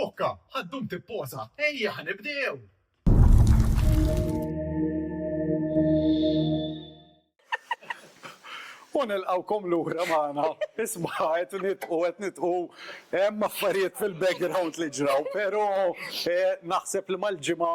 Bokka, ħaddum tipposa, ejja ħanibdew! U nilqawkom lura magħna. Isma' qed nitqu qed nitqu hemm affarijiet fil-background li ġraw, però naħseb li mal-ġimgħa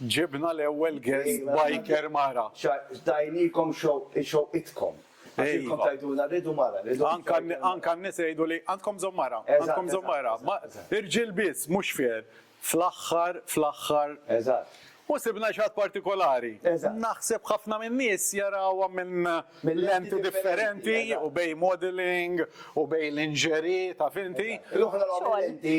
Ġibna l-ewwel guest biker mara. Tajnikom xewqitkom. Għax intkom tgħidulna rridu mara, rridu mara. Anka anka n-nisa jgħidu li għandkom bżonn mara, għandkom bżonn mara. Irġiel biss, mhux fair. Fl-aħħar, fl-aħħar. Eżatt. U sibna xi ħadd partikolari. Eżatt. Naħseb ħafna min-nies jarawha minn lenti differenti u bejn modelling u bejn lingerie, taf inti. L-oħra l-oħra lenti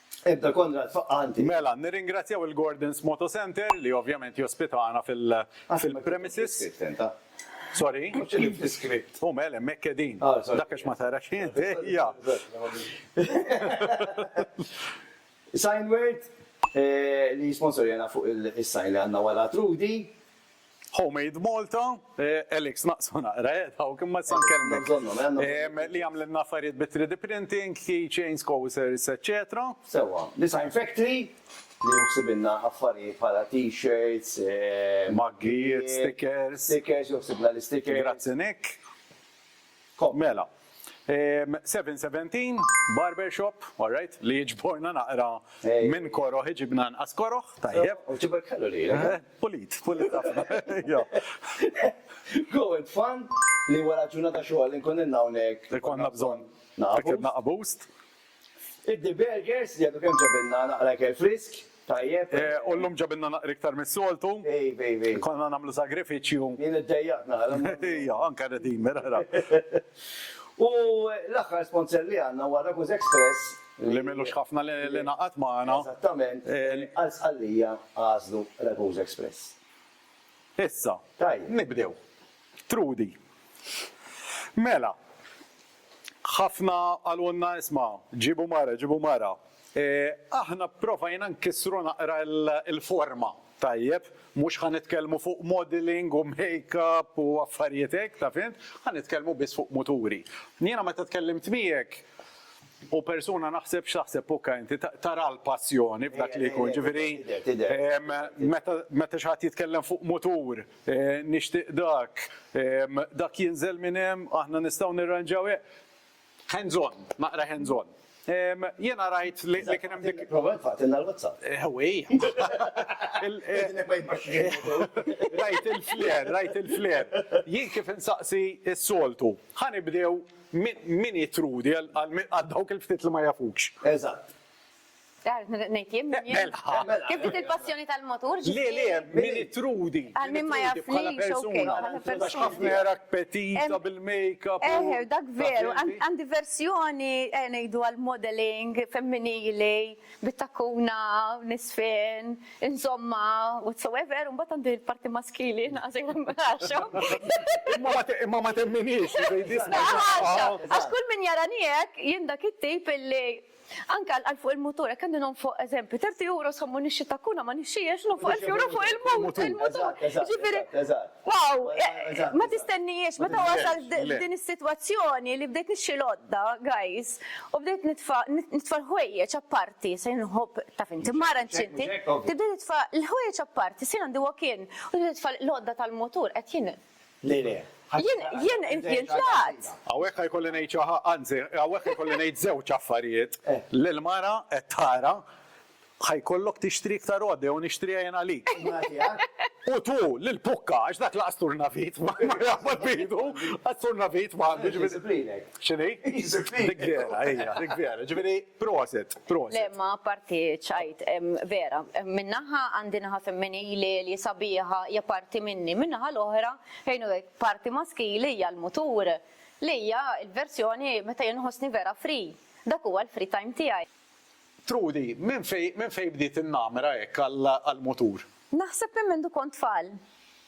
Ebda Konrad faqqa' għandi. Mela, nirringrazzjaw il-Gordon's Moto Centre li ovvjament jospitana fil, fil-premises. Sorry? Mhux qegħdin fl-iskript. U mela hemmhekk qegħdin. Ah, sorry. Dak għax ma tarax int, ejja. Signword, eh, li jisponsorjana fuq il-sign li għandna wara Trudi. Homemade Malta, Alex naqsu naqra eh dawk imma issa nkellmek. Li jagħmlilna affarijiet bi 3D printing, key chains, coasters, eċċetera. Sewwa, Design Factory li hu ħsibilna affarijiet bħala t-shirts, maggijiet, stickers, stickers, hu ħsibna l-istickers. Grazzi Nick. Mela, 7:17, barber shop, all right, li jiġborna naqra minn koroh iġibna anqas koroh, tajjeb. U ġibek ħelu lilek. Pulit, pulit ħafna. Go and fun li wara ġurnata xogħol inkun ilna hawnhekk. Ikollna bżonn. Naqbust. Naqbust. Iddi Burgers, li għadu kemm ġabilna naqra ikel frisk, tajjeb. U llum ġabilna naqra iktar mis-soltu. Iva, iva, iva. Konna nagħmlu sagrifiċċju. Jien iddejjaqt naqra. Iva, anke Redeemer, ara. U l-aħħar sponsor li għandna huwa Ragusa Express. Li m'ilux ħafna li ngħaqad magħna. Eżattament. Għal Sqallija għażlu Ragusa Express. Issa. Tajjeb. Nibdew. Trudi. Mela. Ħafna qalulna isma', ġiebu mara, ġiebu mara. Aħna pprovajna nkissru naqra l-forma, tajjeb, mhux ħa nitkellmu fuq modelling u makeup u affarijiet hekk, taf int, ħa nitkellmu biss fuq muturi. Jiena meta tkellimt miegħek, u persuna naħseb x'taħseb Pucca inti, tara l-passjoni f'dak li jkun, ġifieri meta xi ħadd jitkellem fuq mutur, Nixtieq dak, dak jinżel minn hemm, aħna nistgħu nirranġaw hekk. Hands on, naqra hands on. Jiena rajt li kien hemm dik. Prova infaqtilna l-WhatsApp. Ewwii. Rajt il-flare, rajt il-flare. Jien kif insaqsi s-soltu, ħa nibdew min hi Trudi għal dawk il-ftit li ma jafukx. Eżatt. Nejt jien min jien. Kif dik il-passjoni tal-motur? Le, le, min itrudi. Għal min ma jaf li persuna. Għax ħafna jarak petita bil-makeup. Eh, dak veru, għandi versjoni eh, nejdu għal-modeling femminili, bit-takuna, nisfen, insomma, whatsoever, un bat għandi l-parti maskili, naqsi għaxom. Imma ma temminix, Għax kull min jaraniek, jindak it-tip li Anke għall-qal fuq il-mutur, hekk għandi nonf fuq eżempju, 30 euro sommu nixxi takkuna ma nixxiex, nonf fuq 1000 euro fuq il-mutur. Ġifieri, wow, ma tistennijiex, meta wasalt f'din is-sitwazzjoni li bdejt nixxi l-għodda, guys, u bdejt nitfa' nitfa' l-ħwejjeġ apparti, se jien inħobb, taf inti, mara inċinti, tibda titfa' l-ħwejjeġ apparti, se jien għandi walk-in, u tibda titfa' l-għodda tal-mutur, qed jien Le, le. Jien, jien, jien tlaqt! Hawnhekk ħa jkolli ngħid xi ħa, anzi, hawnhekk ħa jkolli ngħid żewġ affarijiet. Lill-mara qed tara, ħa jkollok tixtri iktar għodda jew nixtriha jien għalik. U tu, lill-pukka, għax dak laqas turnavit ma jaqbad b'idu, għat-turnavit ma għandux. X'inhi? Dik vera, hija, dik vera. Ġifieri, Proset, proset. Le ma parti ċajt, vera. Minnaħa għandi naħa femminili li sabiħa hija parti minni, minnaħa l-oħra ħejnu parti maskili hija l-mutur li hija l-verżjoni meta jien nħossni vera free. Dak huwa l-free time tiegħi. Trudi, minn fejn bdiet in-namra hekk għall-mutur? Naħseb minn mindu kont tfal.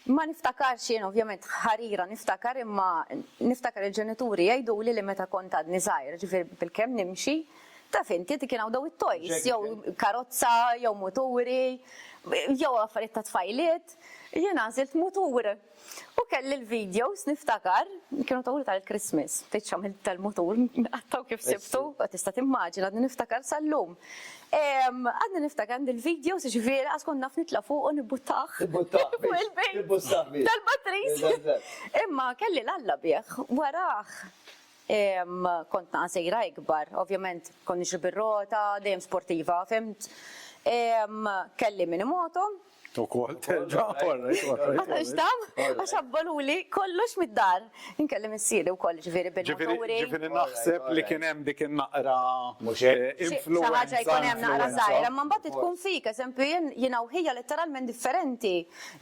Ma niftakarx jien ovvjament ħarira niftakar imma niftakar il-ġenituri jgħiduli li meta kont għadni żgħir, ġifieri bilkemm nimxi, taf inti dik kien hawn dawn it-toys, jew karozza, jew muturi, jew affarijiet tat-tfajliet, jien għażilt mutur. U kelli l-videos niftakar, kienu tawli tal-Christmas, ftit xamilt tal-mutur, qattaw kif sibtu, tista' timmaġina, għadni niftakar sal-lum. Għadni niftakar għandi l-videos ġifieri għas kont naf nitla' fuq u nibbuttah. Nibbuttah. Nibbuttah. Tal-batris. Imma kelli l-alla bih, warah kont naqa' sejra ikbar, ovvjament kont nixri bir-rota, dejjem sportiva, fimt. Kelli minimoto, Ukoll terġa' orrejt, orrejt. Ma tantx dam, għax abboluli kollox mid-dar. Inkellem missieri wkoll ġifieri bil-moturi. Ġifieri naħseb li kien hemm dik in-naqra influwenza. Xi ħaġa jkun hemm naqra żgħira, imma mbagħad tkun fik, eżempju jien jiena u ħija letteralment differenti.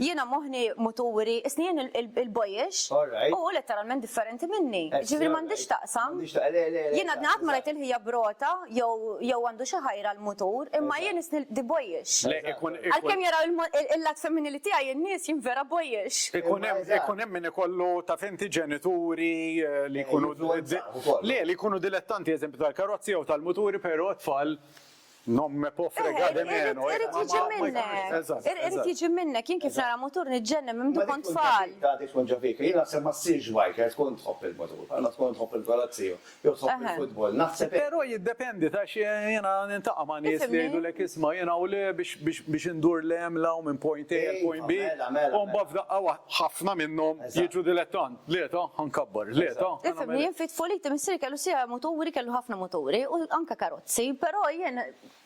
Jiena moħħni muturi, isni jien il-boyish u hu letteralment differenti minni. Ġifieri m'għandhiex x'taqsam. Jiena għadni qatt ma rajt il-ħija b'rota, jew jew għandu xi ħajr għall-mutur, imma jien isni the boyish. Le, ikun, ikun. Għalkemm jaraw il-mod, il-lat femminili tiegħi in-nies, jien vera boyish. Ikun hemm, ikun hemm min ikollu, taf inti, ġenituri li jkunu, le, li jkunu dilettanti, eżempju, tal-karozzi jew tal-muturi, però t-tfal, non me può fregare de meno. Irid jiġi minnek, irid jiġi minnek, jien kif nara mutur niġġennen minn meta kont tfal. Dik tkun ġo fik, jien naħseb ma ssirx biker, tkun tħobb il-mutur, bħalma tkun tħobb il-karozzi. jew tħobb il-futbol. Naħseb hekk. Però jiddependi għax jiena nintaqa' ma' nies li jgħidulek isma' jien hawn le biex indur 'l hemm 'l hawn minn point A għal point B u mbagħad f'daqqa waħda ħafna minnhom jiġu dilettant. Le ta', ħa nkabbar. Le ta'. Tifhimni, jien fi tfuliti missiri kellu sieq muturi, kellu ħafna muturi u anke karozzi, però jien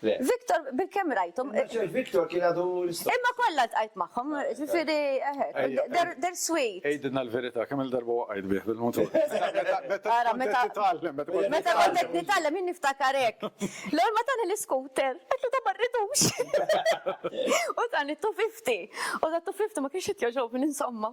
Le. Victor, bilkemm rajthom. Naċer Victor kien għadu l-istess. Imma kollha ltqajt magħhom, ġifieri eħe, they're sweet. Għidilna l-verità, kemm-il darba waqajt bih bil-mutur? Ara, meta. Meta kont qed nitgħallem jien niftakar hekk. L-ewwel ma tani l-iskuter, għedtlu dan ma rridux. U tani t-250. U dan 250 ma kienx qed jogħġobni insomma.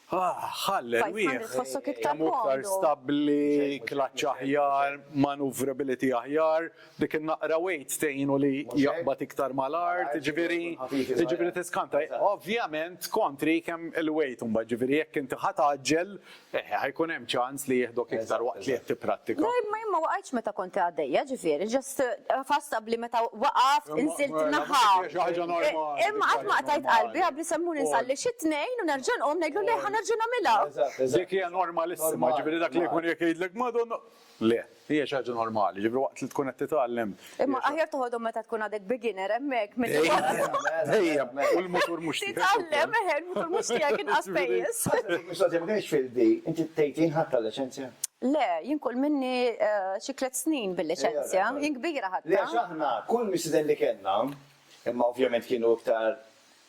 Ħalli erwieħ kemm hu iktar stabbli, klaċċ aħjar, maneuverability aħjar, dik in-naqra weight tgħinu li jaqbad iktar mal-art, jiġifieri jiġifieri tiskanta. Ovvjament kontri kemm il-weight imbagħad, jiġifieri jekk inti ħa tgħaġġel, eh, ħa jkun hemm ċans. ċans li jieħdok iktar waqt li qed tipprattika. Le, imma jien ma waqajtx meta kont għaddejja, ġifieri just ħass qabli meta waqaft, inżilt naħa. Imma qatt ma qtajt qalbi, qabli se mmur insalli xi tnejn u nerġa' nqum ngħidlu le ħa nerġa' nagħmilha. Dik hija normalissima, ġifieri dak li jkun jekk jgħidlek Madonna, le. Hija xi ħaġa normali, ġifieri waqt li tkun qed titgħallem. Imma aħjar toħodhom meta tkun għadek beginner hemmhekk milli Dejjem, u l-mutur mhux tiegħek. Titgħallem, eħe, il-mutur mhux tiegħek inqas pejjeż. Mistoqsija, ma kienx field day, inti tgħid jien ħadt tal-liċenzja? Le, jien kull minni xi tliet snin bil-liċenzja, jien kbira ħadtha. Le għax aħna kull missieden li kellna, imma ovvjament kienu iktar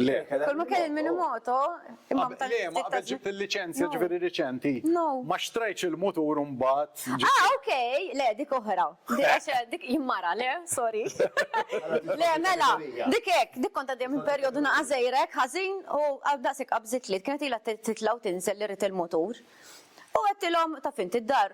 Le. Kull ma kelli minn moto, imma meta Le, ma qabel ġibt il-liċenzja ġifieri riċenti. No. Ma xtrajtx il-mutur u mbagħad. Ah, ok, le dik oħra. Dik jimmara, le, sorry. Le, mela, dik hekk, dik kont għaddejja minn perjodu naqa' żgħirek ħażin u daqshekk qabżitli. Kienet ilha titla' u tinżel li rrid il-mutur. U għedtilhom, taf int, id-dar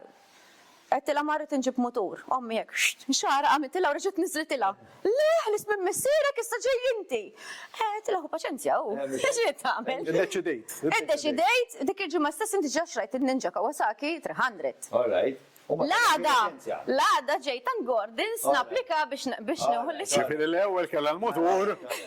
Għedtilha ma rrid inġib mutur. Ommi hekk, xxtt, xagħarha għamiltilha u reġgħet niżżlitilha. Le, ħliest minn missierek, issa ġej inti! Eh, għedtilha ħu paċenzja hu. X'ġiet tagħmel? Iddeċidejt. Iddeċidejt, dik il-ġimgħa stess inti ġa xtrajt in-Ninja Kawasaki 300. All right. U ma kellekx L-għada, liċenzja? l-għada ġejt għand Gordon's napplika biex biex nieħu l-liċenzja. Ġifieri l-ewwel kellha l-mutur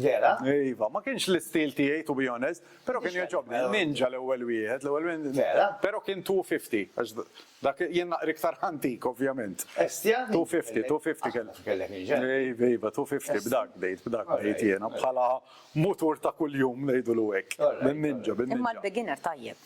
Vera? Iva, ma kienx l-istil tiegħi to be honest, però kien jogħġobni. Ninja l-ewwel wieħed, l-ewwel wieħed. Vera? Però kien 250, għax dak jien naqri iktar antik ovvjament. Estja? 250, 250 kellek. Kellek ninja? Iva, iva, 250 b'dak bdejt, b'dak bdejt jiena bħala mutur ta' kuljum ngħidulu hekk. Bin-ninja, bin-ninja. Imma l-beginner tajjeb.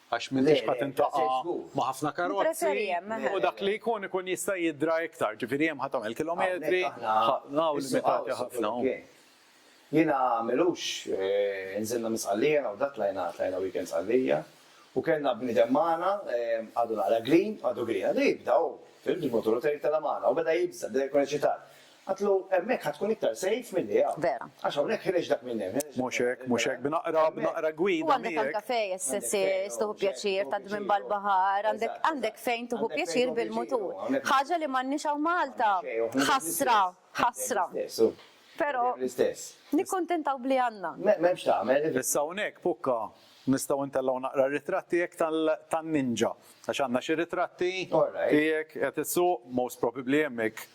Għax m'intix qed tintaqa' ma' ħafna karozzi u dak li jkun ikun jista' jidra iktar. Ġifieri hemm ħa tagħmel kilometri, hawn limitati ħafna. Jiena m'ilux nżilna minn Sqallija hawn dak tlajna tlajna weekend Sqallija u kellna bniedem magħna għadu naqra green għadu green għadu jibda hu, fimt, il-mutur u tela' magħna u beda jibża' beda jkun eċitat. Għatlu, Hemmhekk ħa tkun iktar safe milli hawn. Vera. Għax hawnhekk ħireġ dak minn hemm. Mhux hekk, mhux hekk. B'naqra, b'naqra gwida miegħek. U għandek anke fejn ssissiex, tieħu pjaċir, tgħaddi minn ball-baħar, għandek, għandek fejn tieħu pjaċir bil-mutur. Ħaġa li m'għandniex hawn Malta. Ħasra, ħasra. Però nikkuntentaw b'li għandna. M'hemmx tagħmel. Issa hawnhekk, Pukka, nistgħu ntellgħu naqra r-ritratt tiegħek tal, tan-ninja. Għax għandna xi ritratti tiegħek qed issuq, most probably hemmhekk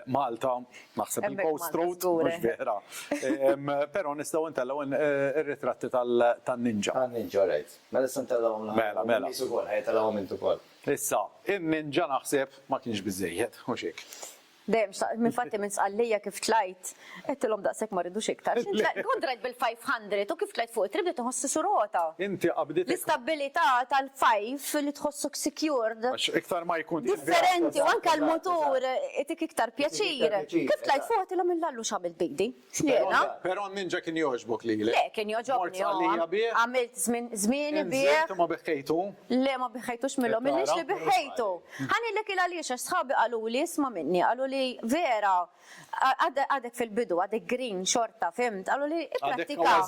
Malta, naħseb il-Coast Road, mhux Vehra. Però nistgħu ntellgħu r-ritratti tan-ninja. Tan-ninja, alright. Mela issa ntellgħuhom l-aħħar. Mela, mela. Nies ukoll, ħa jitellgħuhom int ukoll. Issa, in-ninja naħseb ma kienx biżżejjed, mhux hekk? Dejjem xtaqt, infatti minn Sqallija kif tlajt, Għedtilhom daqshekk ma rridux iktar. X'int tlajt, kont rajt bil-500 u kif tlajt fuq it-triq bdejt inħossi sur għota. Inti qabditek. L-istabbilità tal-5 li tħossok secured. Għax iktar ma jkun. Differenti u anke l-mutur itik iktar pjaċir. Kif tlajt fuq għedtilhom il Lallu x'għamilt b'idi. Tlejna. Però n-Ninja kien jogħġbok lilek. Le, kien jogħġobni. Mort għalija bih. Għamilt żmieni bih. Inżilt u ma biħħejtu? Le, ma biħħejtux minnhom. Minix li biħħejtu. Ħa ngħidlek il-għaliex, għax sħabi qaluli isma' minni, qaluli vera Għadek fil-bidu, għadek green xorta, fhimt? Qaluli ipprattika.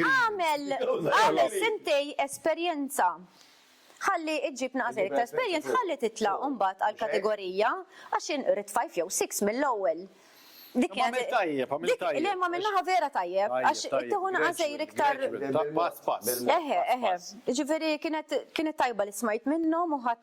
Għamel, għamel sentej esperjenza. Ħalli iġġib naqas iktar esperjenza, ħalli titla' mbagħad għal kategorija għax in rid five jew six mill-ewwel. Dik kienet. Għamil tajjeb, għamil tajjeb. Le, ma minnaħa vera tajjeb, għax it-tiħu naqas iktar. Pass, pass. Eħe, eħe. Ġifieri kienet tajba li smajt minnhom u ħadd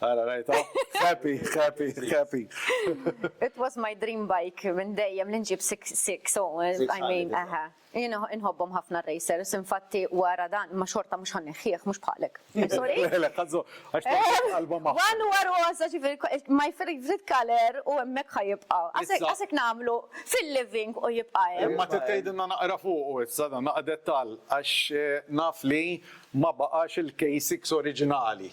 Ara rajta, happy, happy, happy. It was my dream bike minn dejjem li nġib 6 so I mean, aha. Jien inħobbhom ħafna racers, infatti wara dan ma xorta mhux ħanneħħieħ mhux bħalek. Sorry. One huwa rosa ġifieri my favorite color u hemmhekk ħajibqa'. Għasek nagħmlu fil-living u jibqa' hemm. Imma tgħidilna naqra fuq issa dan naqra dettall għax naf li ma baqax il-K6 oriġinali.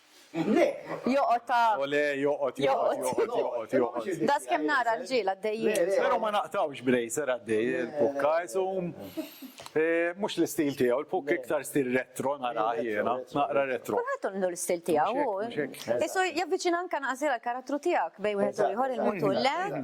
Joqgħod ta'. Ole, joqgħod, joqgħod, joqgħod, joqgħod, joqgħod. Das kemm nara rġiel għaddejjin. Però ma naqtgħux bracer għaddej il-pukka, isum eh, mhux l-istil tiegħu, il-pukk iktar stil retro nara jiena, naqra retro. Kulħadd għandu l-istil tiegħu. Isu javviċina anke naqsir għall-karattru tiegħek bejn wieħed u ieħor il-mutur le.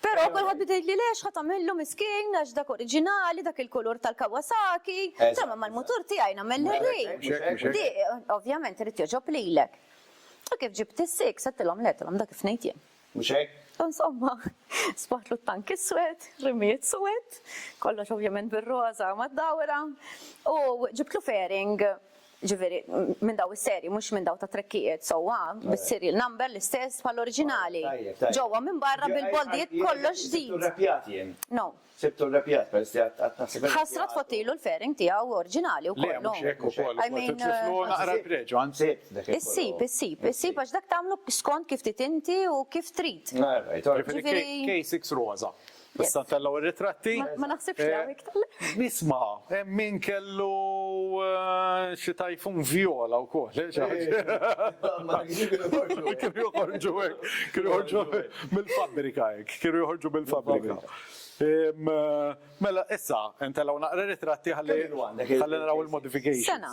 Però kulħadd beda jgħidli le x'ħa tagħmillu miskin għax dak oriġinali, dak il-kulur tal-Kawasaki, insomma mal-mutur tiegħi nagħmel l-irri. Ovvjament irid jogħġob lilek. U kif ġibt is-six għedtilhom le, għedtilhom dak kif ngħid jien. Mhux hekk? U insomma, sbaħtlu t-tank iswed, rimijiet swed, kollox ovvjament bir-roża mad-dawra, u ġibtlu fairing Jiġifieri minn dawn is-serji mhux minn dawn tat-trekkijiet sewwa, bis-serial number l-istess bħall-oriġinali. Ġewwa minn barra bil-boldijiet kollox ġdid. Sibtu rrepjat jien. No. Sibtu rrepjat peress li għad naħseb li. Ħasra tfottilu l-fairing tiegħu oriġinali wkoll. Le mhux hekk ukoll. I mean. Tiflu naqra l-preġu anzi. Sibt dak il-kollu. Issib, issib, issib għax dak tagħmlu skont kif trid inti u kif trid. All right, all right. Jiġifieri K6 roża. Issa ntellgħu r-ritratti. Ma naħsibx li hawn iktar. Isma', hemm min kellu xi tajfun vjola wkoll. Ma kienx kienu joħorġu. Kienu joħorġu hekk. Kienu joħorġu mill-fabbrika hekk. Kienu joħorġu mill-fabbrika. Mela issa ntellgħu naqra ritratti ħalli naraw il-modifications. Sena.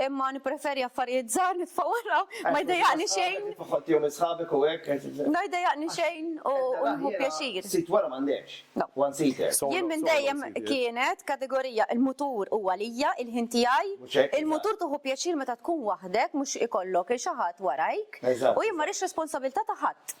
Imma nippreferi affarijiet żgħar nitfa' wara, ma jdejjaqni xejn. Kif iħottihom minn sħabek u hekk? Ma jdejjaqni xejn u nieħu pjaċir. Sit wara m'għandekx, one seater. Jien minn dejjem kienet kategorija il-mutur hu għalija, il-ħin tiegħi. Il-mutur tieħu pjaċir meta tkun waħdek mhux ikollok il xi ħadd warajk. U jien ma rridx responsabilità ta' ħadd.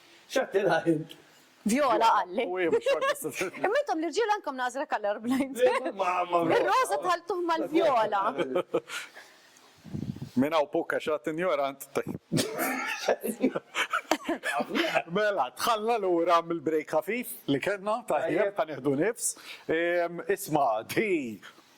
X'għedtilha int? Viola qalli. Imma intom l-irġiel għandkom nażra color blind. Ir-roża dħaltuh mal-vjola. Minn hawn fuq għax għad injorant. Mela, dħalna lura mill-break ħafif li kellna, tajjeb, ħa nieħdu nifs. Isma', di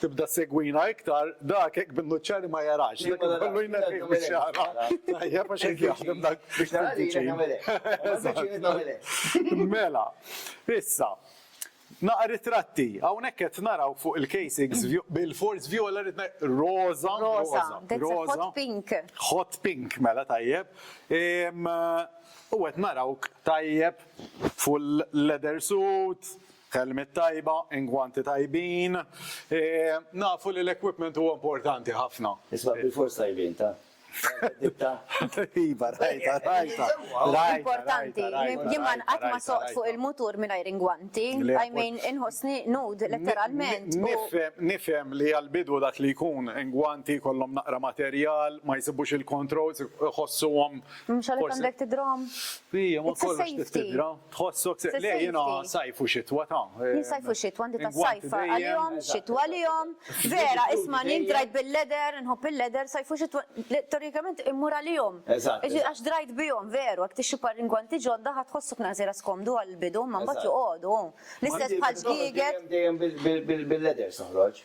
Tibda ssegwina iktar, dak hekk bin-nuċċari ma jarax, dak ikollu jneħħih mix-xagħra. Tajjeb għax hekk jaħdem dak. Biex nara li jiena nagħmel hekk. Eżatt. Biex jiena nagħmel hekk. Mela, issa, naqra ritratti. Hawnhekk qed naraw fuq il-casings vjo-, bilfors vjola rrid ngħid, roża, roża, roża. Roża, that's a hot pink. Hot pink, mela tajjeb. U qed narawk tajjeb full leather suit, Kelmiet tajba, ingwanti tajbin. Nafu li l-equipment huwa importanti ħafna. Isbaħ bilfors tajbin, ta? Ditta? Iva, rajta, rajta. Importanti, jien ma nqatt ma soqt fuq il-mutur mingħajr ingwanti. I mean, inħossni nud letteralment. Nifhem li għall-bidu dak li jkun ingwanti jkollhom naqra materjal, ma jsibux il-controls, iħossuhom. Mhux għalhekk għandek tidhrom? It's a safety. Tħossok se le jiena sajf u xitwa ta'. Jien sajf u xitwa għandi ta' sajf għalihom, xitwa għalihom. Vera, isma' jien drajt bil-leather, nħobb il-leather, sajf u xitwa teorikament immur għalihom. Għax drajt bihom veru, jekk tixtri par ingwanti ġodda ħa tħossok naqsira skomdu għall-bidu imma mbagħad joqogħdu. L-istess bħal żgieget. Dejjem bil-leathers noħroġ.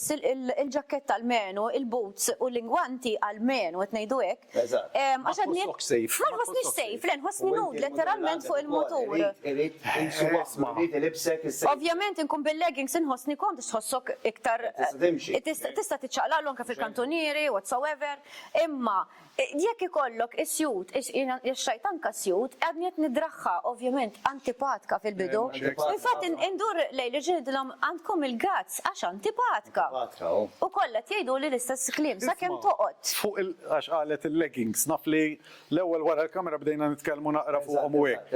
il-ġakketta almenu, il-boots u l-ingwanti almenu, qed ngħidu hekk. Eżatt. Għax għad ngħid. Ma tħossokx safe. Ma nħossnix safe, le nħossni nude letteralment fuq il-mutur. Irid insu waħdma, irid ilibsek is-safety. Ovvjament inkun bil-leggings inħossni komd għax tħossok iktar. Tista' timxi. Tista' tiċċaqlaqlu anke fil-kantunieri, whatsoever. Imma Jekk ikollok is-sjut, għax rajt anke sjut, għadni qed nidraħħa, ovvjament antipatka fil-bidu. Infatti indur lejn irġieli ngħidilhom għandkom il-gazz għax antipatka. U kollha qed jgħiduli l-istess kliem sakemm toqgħod. Fuq il, għax qalet il-leggings, naf li l-ewwel wara l-kamera bdejna nitkellmu naqra fuqhom u hekk.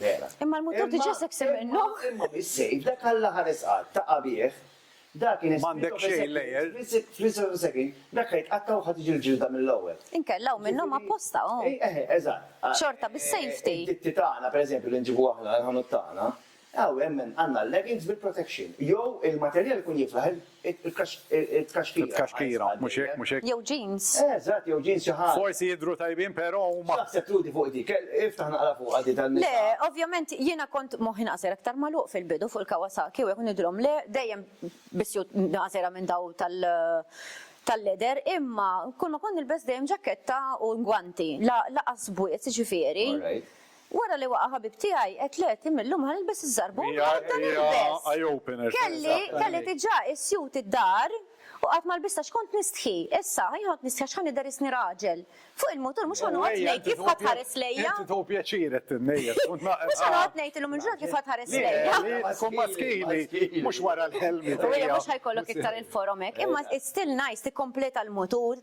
Vera. Imma l-mutur diġà se kseb minnu. Imma mis-sejf dak Alla ħares qatt, taqa' bih. Dak in a split of a second, split of a second, dak ħa jitqatta' u ħa tiġi l-ġilda mill-ewwel. Inkella hawn minnhom apposta hu. Eżatt. Xorta bis-safety. Id-ditti tagħna, pereżempju, li nġibu aħna l-ħanut tagħna, Aw hemm għandna l-leggings bil-protection. Jew il-materjal ikun jiflaħ it-tkaxkira. It-tkaxkira, mhux hekk, mhux hekk? Jew jeans. Eżatt, jew jeans xi ħaġa. Forsi jidhru tajbin però huma. X'taħseb Trudi fuq dik? Iftaħ naqra fuqha din tan-nisa. Le, ovvjament jiena kont moħħi naqser aktar magħluq fil-bidu fuq il-Kawasaki u hekk u ngħidilhom le, dejjem b'suit naqsera minn daw tal-leather imma kulma kont nilbes dejjem ġaketta u ngwanti, la laqas bwiet, jiġifieri. Alright. Wara li waqa' ħabib tiegħi, għedt le, Tim illum ħa nilbes iż-żarbun u ħa nibda nilbes. Kelli, kelli diġà isjut id-dar u qatt ma lbist għax kont nistħi. Issa, jien kont nistħi għax ħa nidher isni raġel. Fuq il-mutur mhux ħa noqgħod ngħid kif ħa tħares lejja. Mhux ħa noqgħod ngħid illum il-ġurnata kif ħa tħares lejja. Mhux ħa jkollok iktar il-forom hekk. Imma it's still nice tikkompleta l-mutur.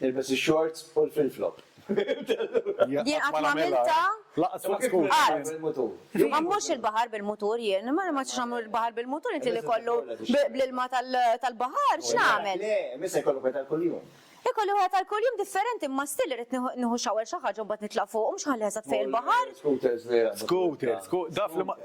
Ilbes ix-shorts u l-flip-flop. Jien qatt ma għamiltha. Lanqas fuq scooter. Qatt. Ma mmurx il-baħar bil-mutur jien. Ma nagħmilx nagħmel il-baħar bil-mutur inti li jkollu bl-ilma tal-baħar x'nagħmel? Le, imma issa jkollok wieħed għal kuljum. Ikolli wieħed għal kuljum differenti imma still irrid nieħu shower xi ħaġa u mbagħad nitla' fuq u mhux inħalli eżatt fej il-baħar. Scooters li. Scooter, scoo, daf li ma.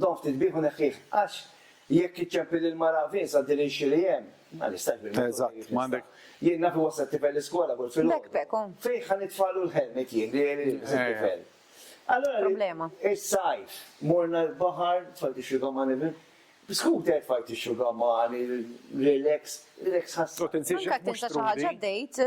Dom ftit bih u neħħih, għax jekk iċċempli lill-mara f'insa din il-xi li hemm, ma nistax bil-motore kif nista'. Jien naf iwassal t-tifel l-iskola kull filgħodu. Fejn ħa nitfagħlu l-helmet jien li jilbes it-tifel? Allura is-sajf morna l-baħar, tfajt ix-xugamani bil, b'scooter tfajt ix-xugamani, relax, relax ħassir. Anke tinsab xi ħaġa date.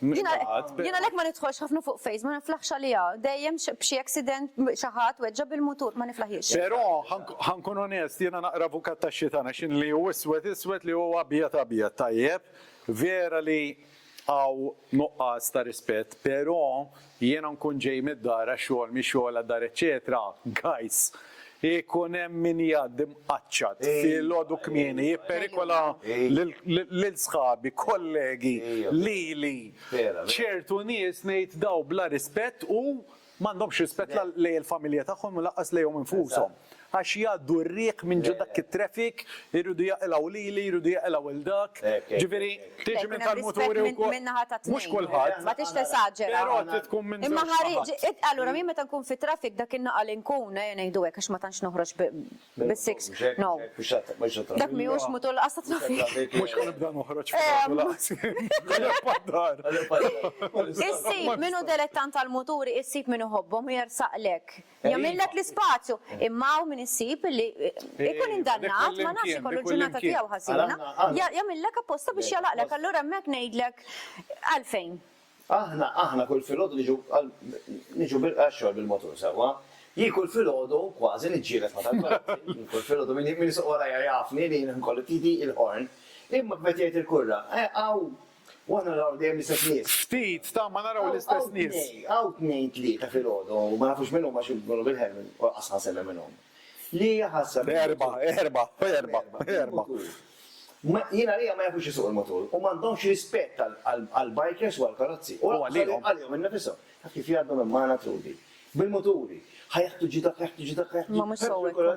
Jien għalhekk ma nidħolx ħafna fuq Face, ma niflaħx għaliha. Dejjem b'xi accident xi ħadd weġġa' bil-mutur, ma niflaħiex. Però, ħa nkun onest, jiena naqra avukat tax-xitan għax jien li hu iswed iswed, li hu abjad abjad. Tajjeb, vera li hawn nuqqas ta' rispett, però Jiena nkun ġej mid-dar għax-xogħol, mix-xogħol għad-dar eċċetera, guys, ikun hemm min jgħaddi mqaċċat filgħodu kmieni jipperikola lil sħabi, kollegi, lili, ċertu nies ngħid daw bla rispett u m'għandhomx rispett la lejn il-familja tagħhom u lanqas lejhom infushom. għax jgħaddu r-riħ minn ġo dak it-traffic, iridu jaqilgħu lili, iridu jaqilgħu lil dak, ġifieri tiġi minn tal-muturi wkoll. Mhux kulħadd. Ma tridx tesaġera. Però trid tkun minn żewġ naħat. Allura jien meta nkun fit-traffic dak in-nagħqa li nkun, ejja ngħidu hekk għax ma tantx noħroġ bis-six, no. Dak mhijiex mutur lanqas tat-traffic. Mhux ħa nibda noħroġ fil-ħodu lanqas jien. Issib min hu delettant tal-muturi, issib min iħobbhom u jersaqlek. Jagħmillek l-ispazju. Imma hawn min issib li jkun indannat, ma nafx ikollu l-ġurnata tiegħu ħażina, jagħmillek apposta biex jagħlaqlek. Allura hemmhekk ngħidlek għalfejn. Aħna, aħna kull filgħodu niġu għal, niġu għax-xogħol bil-motur sewwa. Jien kull filgħodu kważi niġġieled ma' tal-karozzi. Jien kull filgħodu min isuq warajja jafni li jien inkolli f'idi il-horn. Imma kif qed jgħid il-kurra, hawn U aħna naraw dejjem l-istess nies. Ftit, ta' ma naraw l-istess nies. Għaw tnejn tlieta fil-ħodu, ma nafux minn huma xi jkunu bil-ħelm, u qas ħansema minnhom. Li jaħassa. Erba, erba, erba, erba. Jien għalija ma jafux jisuq il-mutur u m'għandhomx rispett għall-bikers u għall-karozzi. U għalihom. Għalihom innifishom. Taf kif jgħaddu minn magħna Trudi. Bil-muturi. Ħa jaħtu ġi dak, jaħtu ġi dak, jaħtu ġi dak. Ma mhux sewwa.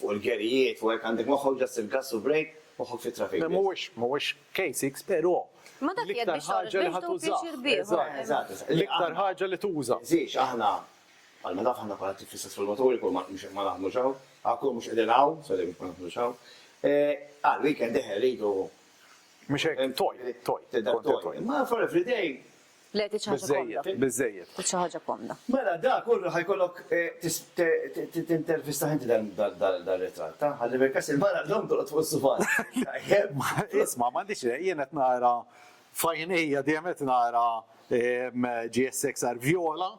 Fuq il-gerijiet u hekk għandek moħħok just il-gass u break, moħħok fit-traffic biss. Mhuwiex, mhuwiex K-six pero. Ma dak qiegħed biex toħroġ biex tdum pjaċir bih. Eżatt, eżatt, eżatt. L-iktar ħaġa li tuża. Żidx aħna, bħalma taf aħna bħala tip fl-istess formaturi kull ma mhux ma naħdmux hawn, għal kull mhux qegħdin hawn, sorry mhux ma naħdmux hawn, għal weekend eħe rridu. Mhux hekk, toy, toy. Tibda b'toy. Imma for everyday, Le, trid xi ħaġa komda. Biżżejjed, biżżejjed. Trid xi ħaġa komda. Mela dak hu ħa jkollok tintervistah inti dal-ritratt, ha? Ħalli fil-każ il-mara llum tolqot fuq is-sufan. Tajjeb. Isma' m'għandix xejn, jien qed nara f'għajnejja dejjem qed nara GSXR vjola.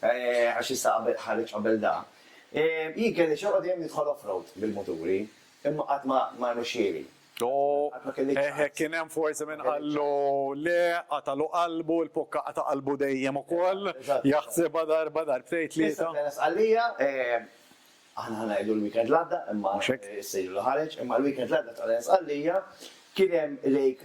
għax issa ħareġ qabel da, jien kelli xewqa dejjem nidħol off-road bil-muturi, imma qatt ma rnexxieli. Qatt ma kelli ċans. Eħe, kien hemm forsi min qallu le, qatagħlu qalbu, il-pokka qata' qalbu dejjem ukoll, jaħsibha darba, darbtejn, tlieta. Issa kellha Sqallija, aħna ħa ngħidu l-weekend l-għadda, imma issa ilu ħareġ, imma l-weekend l-għadda ta' qabel Sqallija kien hemm Lake,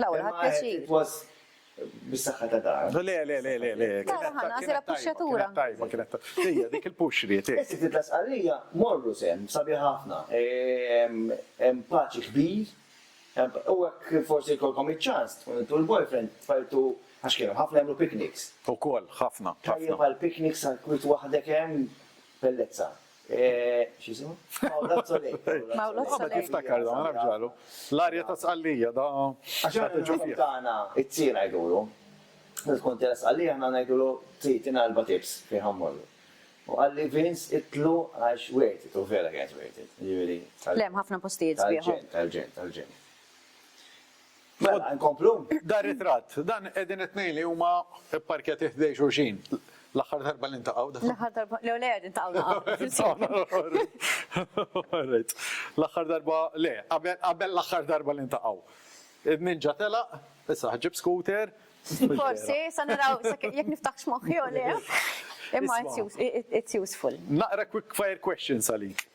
L-ewwel ħadd pjaċir. Bis-saħħa ta' dar. Le, le, le, le, le. Tara ħana, sira puxxatura. Tajba, kienet tajba. Hija dik il-push li jtiek. Is-sit ta' Sqallija morru sehem, sabiħ ħafna. Hemm paċi kbir. U hekk forsi jkollkom iċ-ċans tkun intu l-boyfriend tfajtu għax kienu ħafna jagħmlu picnics. Ukoll, ħafna. Tajjeb għall-picnics għall-kwiet waħdek hemm bellezza. X'jisimha? Mawlod Soleil. Mawlod Soleil. Qabad jiftakar dan, naf ġralu. L-arja ta' Sqallija da. Għax aħna fil-ħin tagħna it-tzir ngħidulu. Meta tkun tela' Sqallija aħna ngħidulu tzir tina erba' tips fejn ħa mmorru. U qalli Vince itlu għax worth it u vera kienet worth it. Jiġifieri. Le hemm ħafna postijiet sbieħ. Tal-ġenn, tal-ġenn, tal-ġenn. Mela, inkomplu? Dan ritratt, dan qegħdin it-tnejn li huma pparkjati ħdej xulxin. L-aħħar darba li ntaqgħu dawn. L-aħħar darba, le le qegħdin taqgħu naqgħu. Orrejt. L-aħħar darba, le, qabel l-aħħar darba li ntaqgħu. Id-ninja telaq, issa ħġib scooter. Forsi, sa naraw, jekk niftaħx moħħi u le. Imma it's useful. Naqra quick fire questions għalik.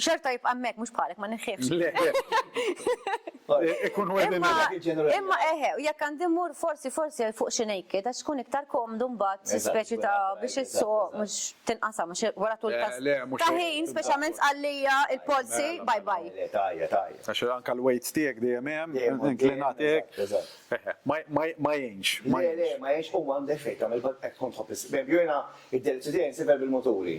Xorta jibqa' hemmhekk mhux bħalek ma neħħiex. Ikun Imma eħe, u jekk għandi mmur forsi forsi fuq xi naked għax tkun iktar komdu mbagħad xi speċi ta' biex issuq mhux tinqasam mhux wara tul ta' ħin speċjalment sqallija il-polsi bye bye. Tajja tajja. Għax anke l-weights tiegħek dejjem hemm, inklinat hekk. Ma jgħinx. Ma jgħinx u m'għandek fejn tagħmel qed tkun tħobb. Jiena id-delizju tiegħi nsibha bil-muturi.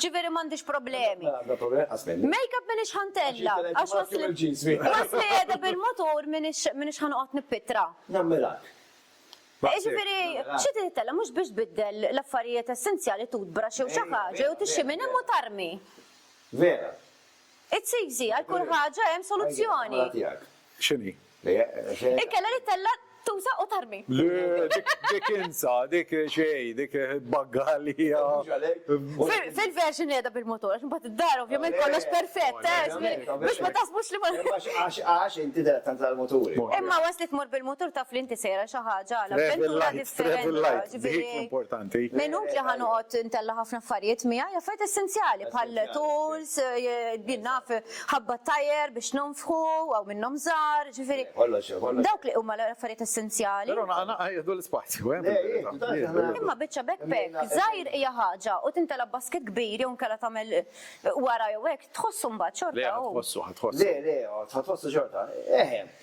Ġifieri m'għandix problemi. Makeup m'iniex ħa ntella', għax waqt li qiegħda bil-mutur m'iniex ħa noqgħod nippittra. Jiġifieri xi trid ittella' mhux biex tbiddel l-affarijiet essenzjali toothbrush jew xi ħaġa jew tixxi minn hemm u tarmi. It's easy, għal kull ħaġa hemm soluzzjoni. X'inhi? Inkella li tella' tuża u tarmi. Le, dik insa, dik xejn, dik bagga għalija. Fil-version qiegħda bil-motur, għax imbagħad id-dar ovvjament kollox perfett, biex ma taħsbux li ma. Għax inti dehret tant għall-muturi. Imma once li tmur bil-mutur taf li inti sejra xi ħaġa għal avventura differenti, ġifieri. Minut li ħa noqgħod intella' ħafna affarijiet miegħi, affarijiet essenzjali bħal tools, jien naf. ħabba t-tajr biex nonfħu, hawn minnhom żgħar, ġifieri. Dawk li huma l-affarijiet essenzjali. Però naqra jieħdu l-ispazju, eh. Imma biċċa backpack żgħir hija ħaġa u tintela' b'basket kbir jew inkella tagħmel wara jew hekk, tħossu mbagħad xorta hu. Le, ħa tħossu, ħa tħossu. Le, le, ħa tħossu xorta. Eħe.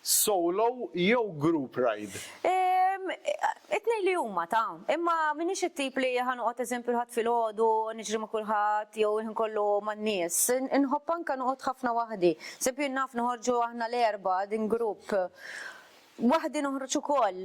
Solo jew group ride? Ehm, it-tnejn li huma ta'. Imma m'iniex it-tip li ħa noqgħod eżempju l-Ħadd filgħodu niġri ma' kulħadd jew il-ħin kollu man-nies. Inħobb anke noqgħod ħafna waħdi. Eżempju jien naf noħorġu aħna l-erbgħa din grupp. Waħdi noħroġ ukoll.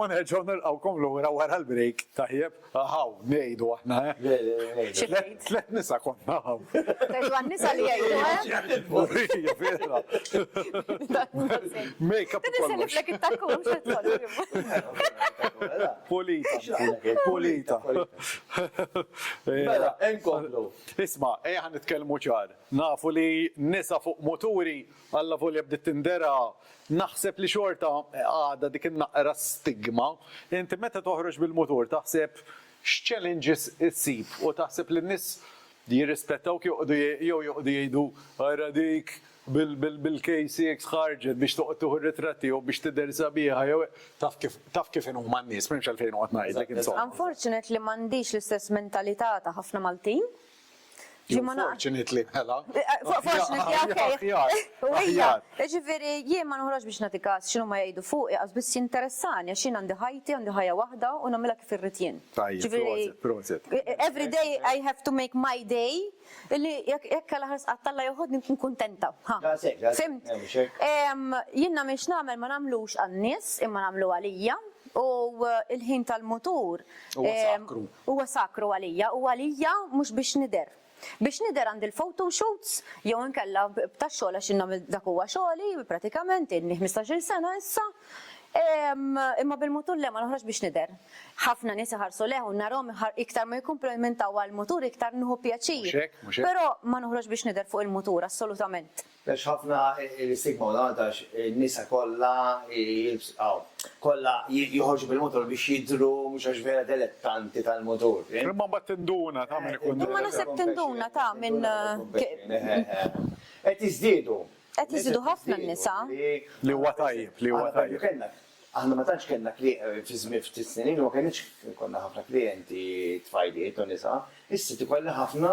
U nerġgħu nilqgħukom lura wara l-break, tajjeb? Ahaw, ngħidu aħna, eh? Tliet nisa konna hawn. Tgħidu għan-nisa li jgħidu, eh? Vera. Make-up u kollox. Niseliflek it-takku mhux qed tgħolli. Pulita. Pulita. Mela, inkomplu. Isma', ejja ħa nitkellmu ċar. Nafu li nisa fuq muturi Allavolja bdiet tindera, naħseb li xorta għadha dik in-naqra stigma. Inti meta toħroġ bil-mutur taħseb x'challenges issib u taħseb li n-nies jirrispettawk joqogħdu jew joqogħdu jgħidu ara dik bil-KCX ħarġet biex toqgħod tieħu r-ritratti jew biex tidher sabiħa jew taf kif inhuma n-nies, m'hemmx għalfejn noqgħod ngħidlek insomma. Unfortunately m'għandix l-istess mentalità ta' ħafna Maltin. Jien ma naqra. Fortunate li mela. Fortunate li aħjar. U hija. Ġifieri jien ma noħroġ biex nagħti każ x'inhu ma jgħidu fuqi qas biss jinteressani għax jien għandi ħajti, għandi ħajja waħda u nagħmilha kif irrid jien. Tajjeb, proset, proset. Every day I have to make my day illi jekk għal ħares qatt Alla joħodni nkun kuntenta. Fimt? Jien nagħmel x'nagħmel ma nagħmlux għan-nies imma nagħmlu għalija u l-ħin tal-mutur. Huwa sakru. Huwa sakru għalija u għalija mhux biex nidher. Biex nidher għandi l-photo shoots jew inkella b'tax-xogħol għax jien nagħmel dak huwa xogħli pratikament ilni ħmistax-il sena issa imma bil-mutur le ma noħroġx biex nidher. Ħafna nies iħarsu lejh u narahom iktar ma jikkumplimintaw għall-mutur iktar nieħu pjaċir. Però ma noħroġx biex nidher fuq il-mutur assolutament. Hemmx ħafna l-istigma u l-għaqda għax in-nisa kollha jilbsu aw kollha joħorġu bil-mutur biex jidhru mhux għax vera delettanti tal-mutur. Imma mbagħad tinduna ta' min ikun Imma naħseb tinduna ta' min Qed jiżdiedu. Qed jiżdiedu ħafna n-nisa. Li huwa tajjeb, li huwa tajjeb. Aħna ma tantx kellna fi żmien ftit snin ilu ma kellniex konna ħafna klijenti tfajliet u nisa. Issa tikollha ħafna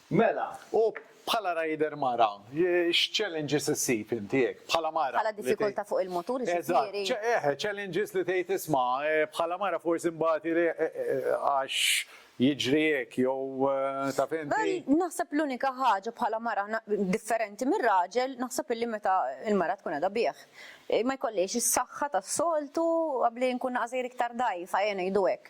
Mela, u bħala rider mara, x'challenges issib inti hekk, bħala mara? Bħala diffikultà fuq il-motur jiġifieri? Eżatt, eħe, challenges li tgħid isma' bħala mara forsi nbati għax jiġri hekk jew taf inti. Naħseb l-unika ħaġa bħala mara differenti mir-raġel naħseb illi meta l-mara tkun qiegħda bih ma jkollhiex is-saħħa tas-soltu, abli nkun naqas sejr iktar dgħajfa, eħe ngħidu hekk.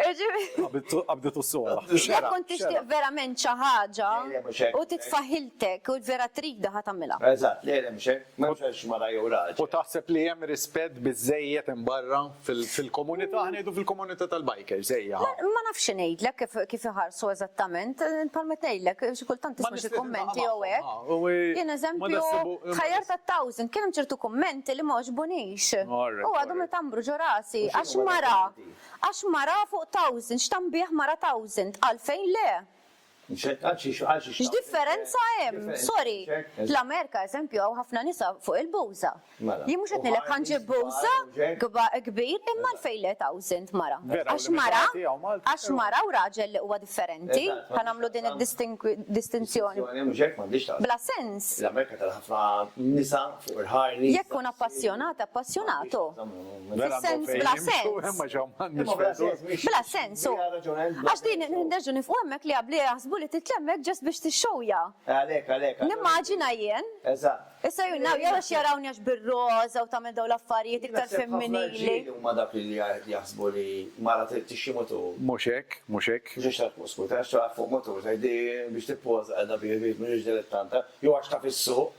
Qabditu s-sola. Jekk kont tixtieq verament xi ħaġa u titfaħiltek u vera tridha ħa tagħmilha. Eżatt, le le mhux hekk, m'hemmx għaliex mara jew raġel. U taħseb li hemm rispett biżżejjed hemm barra fil-komunità, ħa ngħidu fil-komunità tal-bikers, ejja ħa. Ma nafx xi ngħidlek kif iħarsu eżattament, bħalma qed ngħidlek xi kultant tisma' xi kummenti jew hekk. Jien eżempju, ħajjart għat-thousand kien hemm ċertu kummenti li m'għoġbunix. U għadhom itambru ġo rasi għax mara Għax mara fuq thousand, x'tanbiegħ mara thousand, għalfejn le? X'differenza hemm? Sorry, fl-Amerika, eżempju, hawn ħafna nisa fuq il-bouza. Jien mhux qed ngħidlek ħa nġib bouza kbir, imma għalfejn le thousand mara? Għax mara, għax mara u raġel li huwa differenti, ħa nagħmlu din id-distinzjoni? Bla sens. Jekk tkun appassjonat, appassjonat hu. Vera għandhom fejn jimxu, imma ġew mħannis fil-ħdud. Bla sens, u. Għax din nerġgħu nifqu hemmhekk li jabbli jaħsbu li titla' hemmhekk just biex tixxewja. Għalhekk, għalhekk. Nimmaġina jien. Eżatt. Issa jien naf jew għax jarawni għax bir-roża u tagħmel dawn l-affarijiet iktar femminili. Naħseb ħafna rġiel huma dak li jaħsbu li mara trid tixxi mutur. Mhux hekk, mhux hekk. Mhux għax taf fuq skuter, għax taf fuq mutur tgħid li biex tippoża qiegħda biex mhux dilettanta, jew għax taf is-suq,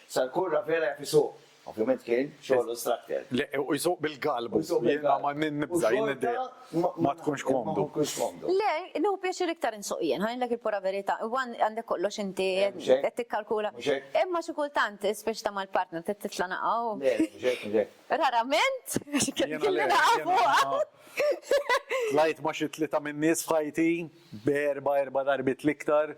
Sal-kurra vera jaf isuq. Ovvjament kien xogħlu s-trakter. Le, u jsuq bil-galbu. U jsuq bil-galbu. Jiena ma nibża', jien id-dejja ma tkunx komdu. Ma tkunx komdu. Le, nieħu pjaċir iktar insuq jien, ħa ngħidlek il-pura verità. Huwa għandek kollox inti qed tikkalkula. Mhux hekk? Imma xi kultant, speċta mal-partner, trid titla' naqgħa u. Le, mhux hekk, mhux hekk. Rarament, għax kelli naqgħa fuqha. Tlajt ma' xi tlieta min-nies f'ħajti, b'erbgħa, erba' darbiet l-iktar.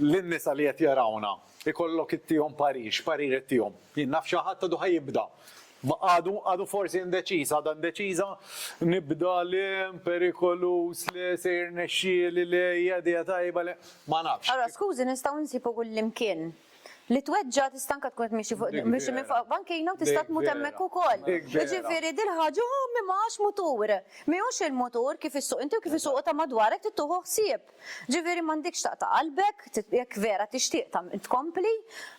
lin-nisa li qed jarawna, ikollok ittihom parir, x'parir qed tihom? Jien naf xi ħadd għadu ħa jibda, għadu, għadu forsi indeċiż, għadha indeċiża, nibda le, perikoluż le, se jirnexxieli le, hija idea tajba le, ma nafx. Allura skużi nistgħu nsibu kullimkien li tweġġa' tista' anke tkun qed tmexxi fuq tmexxi minn fuq bankina u tista' tmut hemmhekk ukoll. Jiġifieri dil-ħaġa hu mimgħax mutur. Mhijiex il-mutur kif issuq inti u kif isuqu ta' madwarek trid tuħu ħsieb. Ġifieri m'għandikx taqta' qalbek, jekk vera tixtieq tkompli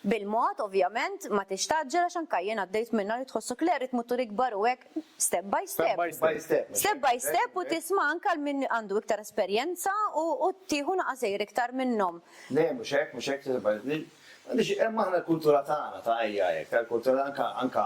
bil-mod ovvjament ma tridx tgħaġġel għax anke jien għaddejt minnha li tħossok le rrid mutur ikbar u hekk step by step, step by step u tisma' anke għal min għandu iktar esperjenza u tieħu naqas għajr iktar minnhom. Le mhux hekk, mhux hekk, għaliex hemm aħna l-kultura tagħna ta' ejja hekk, tal-kultura anke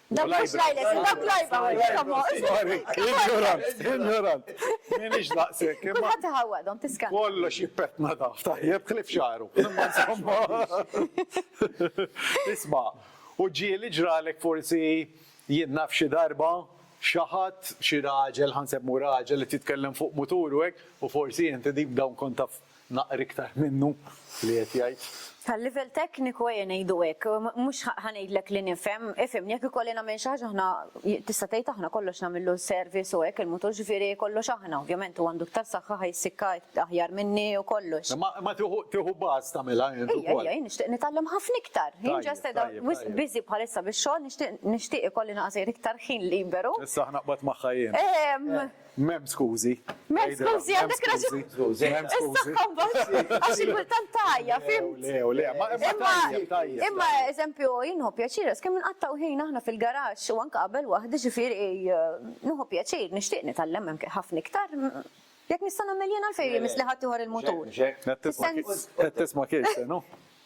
Dawk mhux l-għajles, dawk l-għajba għajba. Ignorant, ignorant. Minix daqsek. Kulħadd iħawwadhom tiskan. Kollox jippetna da, tajjeb ħlif xaru. Isma', u ġieli ġralek forsi jien naf xi darba xi ħadd, xi raġel, ħa nsemmhu raġel qed jitkellem fuq mutur u hekk, u forsi inti dik dawn kont taf Naqr iktar minnu li qed jgħid. Tal-livell tekniku ejja ngħidu hekk, mhux ħa ngħidlek li nifhem, ifhimni jekk ikolli nagħmel xi ħaġa aħna tista' tgħid aħna kollox nagħmillu service u hekk il-mutur ġifieri kollox aħna, ovvjament hu għandu iktar saħħa ħa jissikka aħjar minni u kollox. Imma imma tieħu tieħu bus tagħmilha int ukoll. Ejja ejja jien nixtieq nitgħallem ħafna iktar. Jien ġast qiegħda wisq busy bħalissa bix-xogħol nixtieq nixtieq ikolli naqas iktar ħin liberu. Issa ħa naqbad magħha jien. M'hemm skużi. M'hemm skużi, għandek raġun. Is-saħħa mbagħad għax xi kultant tgħajja, fimt? Le, le, ma tajjeb, tajjeb. Imma eżempju jien nħobb pjaċir, għax kemm inqattgħu ħin aħna fil-garaxx u anke qabel waħdi, ġifieri nieħu pjaċir, nixtieq nitgħallem hemm ħafna iktar. Jekk nista' nagħmel jien għalfejn imiss li ħaddieħor il-mutur. Qed tisma' Kirsten, hu?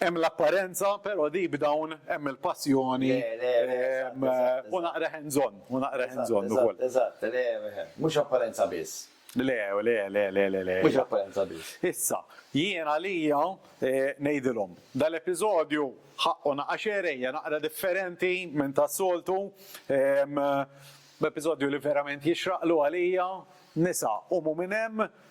Hemm l-apparenza, però deep down hemm il-passjoni u naqra hands on, u naqra hands on ukoll. Eżatt, le, mhux apparenza biss. Le, le, le, le, le, le. Mhux apparenza biss. Issa, jien għalija ngħidilhom, dal-episodju ħaqqu naqgħa xehrejja, naqra differenti minn tas-soltu, episodju li verament jixraqlu għalija, nisa, qumu minn hemm,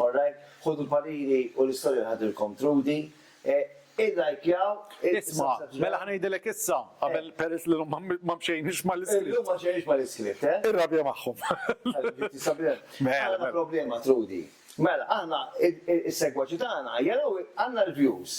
All right, ħudu l-panini u l-istorja tħaddilkom Trudi. Illajkjaw, Isma', mela ħa ngħidilek issa, qabel peress li llum ma mxejniex mal-iskript. Illum ma mxejniex mal-iskript, eh? Irrabja magħhom. Ħabibi, Sabrina, għandna problema Trudi. Mela, aħna, is-segwaċi tagħna jaraw għandna l-views,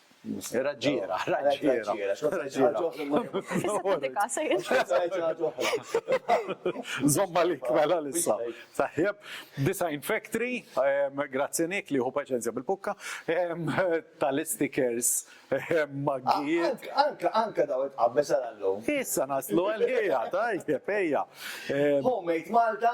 Raġġiera, raġġiera. Zomma li kmela l-issa. Tajjeb, Design Factory, grazzi Nick li hu paċenzja bil-pukka, tal-istikers maggijiet. Anka, anka daw it-qabbes għal-lum. Issa naslu għal-ħija, tajjeb, ejja. Homemade Malta,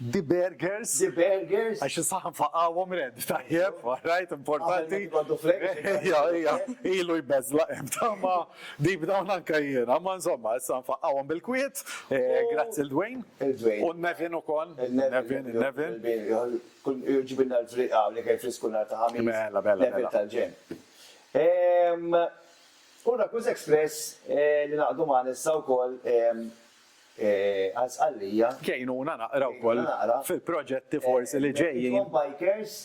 The burgers. The burgers. Għax is-saħħa nfaqgħuhom red, tajjeb, rajt importanti. Ilu jbeżlaq hemm tama deep down anke jiena, ma insomma, issa nfaqgħuhom bil-kwiet, grazzi l-Dwayne. Il-Dwayne. U Nevin ukoll. Nevin, Nevin. Ġibilna l-friq hawn li kien frisku nhar ta' Ħamis. Mela, mela. Nevin tal-ġenn. U Rakkuż Express li ngħaqdu magħna issa wkoll għal Sqallija. Għinuna naqra wkoll fil-proġetti forsi li ġejjin. Icon Bikers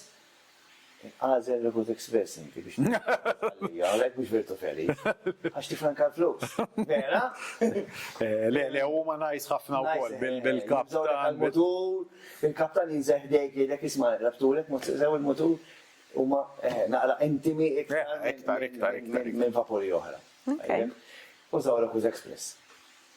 għażel Revolt Express inti biex tmur Sqallija, għalhekk mhux Virtu Feliz. Għax tifranka l-flus. Vera? Le, le, huma nice ħafna wkoll bil-kaptan. Mutur, il-kaptan jinżel ħdejk jgħidlek isma' rabtulek mod sew il-mutur, huma naqra intimi iktar minn vapuri oħra. Użaw Revolt Express.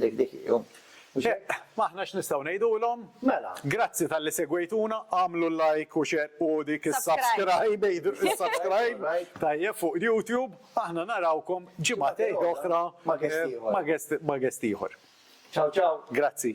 Dik dik hi, hu. Eq, aħna x'nistgħu ngħidulhom? Mela. Grazzi talli segwejtuna, agħmlu like u share u dik is-subscribe, għidu is-subscribe, tajjeb, fuq YouTube. Aħna narawkom ġimgħatejn oħra ma' guest ieħor. Ma' guest, ma' guest ieħor. Ciao ciao. Grazzi.